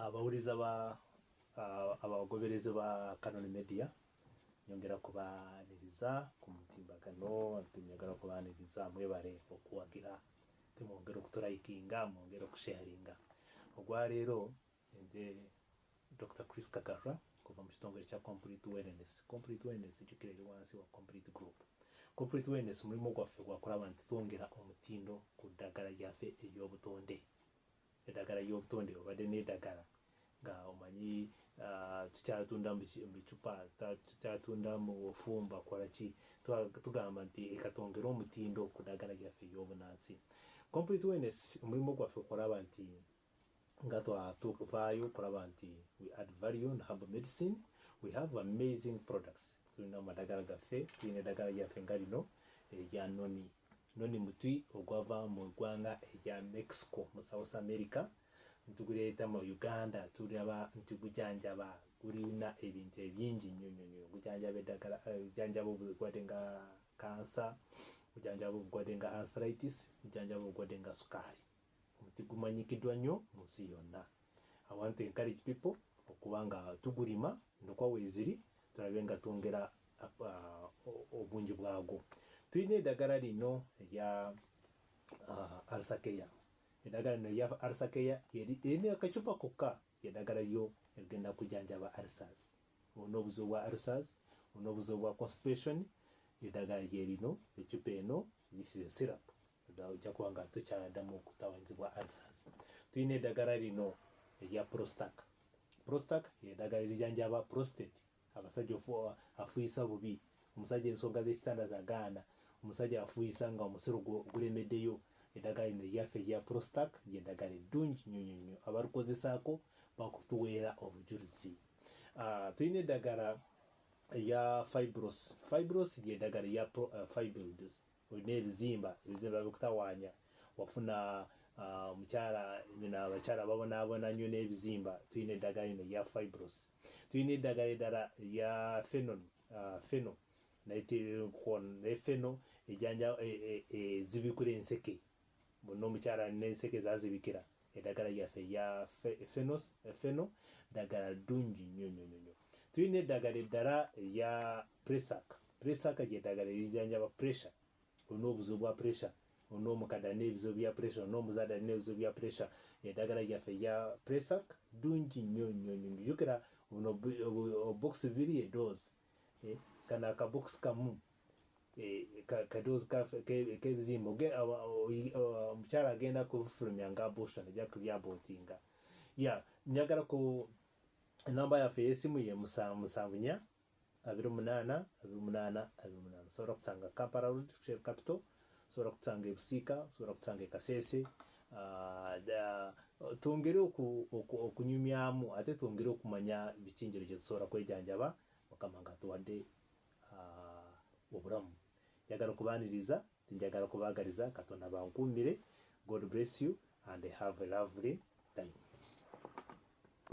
abawuliza ah, ba ah, abagoberezi ba Canon Media nyongera kubaaniriza ku mutimbagano nyongera kubaaniriza mwebale okuwagira temwongera okutulayikinga mwongera okusharinga ogwaleero nze Dokita Chris Kagarra kuva mu kitongole kya Complete Wellness. Complete Wellness jjukira eri wansi wa Complete Group. Complete Wellness mulimu gwaffe gwa kulaba nti twongera omutindo ku ddagala lyaffe ery'obutonde. Eddagala ly'obutonde obadde n'eddagala nga omanyi uh, tukyatunda mu bicupa tukyatunda mu ofumba kolaki tugamba nti ekatwongere omutindo ku ddagala lyaffe ery'obunansi. Complete Wellness omulimu gwaffe okulaba nti nga tuvaayo okulaba nti we add value on herbal medicine we have amazing products tulina amadagala gaffe tulina eddagala lyaffe nga lino erya noni noni muti ogwava mu ggwanga erya mexico mu south america ntuguleeta mu uganda tulaba nti gujanjaba gulina ebintu ebingi nnyo nnyo nnyo gujanjaba eddagala eh, gujanjaba obulwadde nga kansa gujanjaba obulwadde nga anseritis gujanjaba obulwadde nga sukaali Omuti gumanyikidwa nyo munsi yonna. I want to encourage people okuba nga tugulima endokwa weziri tulabe nga twongera uh, obungi bwagwo. Tulina edagala lino erya uh, arsakeya. Edagala lino erya arsakeya erina akacupa kokka edagala lyo erigenda kujanjaba arsas. Olina obuzibu bwa arsas, olina obuzibu bwa constipation, edagala lyerino ecupa eno this is a syrup. Ddala ojja kuba nga tokyadamu okutawanyizibwa ulcers. Tulina eddagala lino erya Prostac. Prostac y'eddagala erijanjaba prostate, abasajja afuuyisa bubi, omusajja ensonga z'ekitanda zagaana, omusajja afuuyisa nga omusiro guremeddeyo eddagala lino lyaffe erya Prostac ly'eddagala eddungi nnyo nnyo nnyo abalikozesaako bakutuweera obujulizi. Ah, tulina eddagala eya fibros. Fibros ly'eddagala erya eh, fibroids olina ebizimba ebizimba bikutawaanya wafuna ah, omukyala bino abakyala babonaabona nnyo n'ebizimba tulina eddagala lino erya fibros tulina eddagala eddala erya fenon ah, feno naye feno ejanja e, e, e, ezibikula enseke Munno omukyala n'enseke zazibikira edagala yaffe eya fenos feno dagala ddungi nnyo nnyo nnyo tulina eddagala eddala eya presaka presaka gy'eddagala erijanjaba pressure olina obuzibu bwa pressure olina omukadde alina ebizibu bya pressure olina omuzadde alina ebizibu bya pressure eddagala gyaffe eya presak ddungi nnyo nnyo nnyo jjukira buno obokisi bibiri edoozi eh, kana akabokisi kamu eh, kadoozi kebizimba omukyala agenda kufulumya nga busha neja kulyabotinga ya njagala ku enamba yaffe eyesimu ye musanvu musanvu nya abiri omunaana abiri omunaana abiri omunaana osobola kusanga kampala road shell capital osobola kusanga ebusiika osobola kusanga ekaseese ah, twongere okunyumyamu ate twongere okumanya bikinjiro gyetusobola kwejanjaba mukama nga tuwadde uh, obulamu njagala okubaniriza njagala kubagaliza katonda bankuumire god bless you and have a lovely time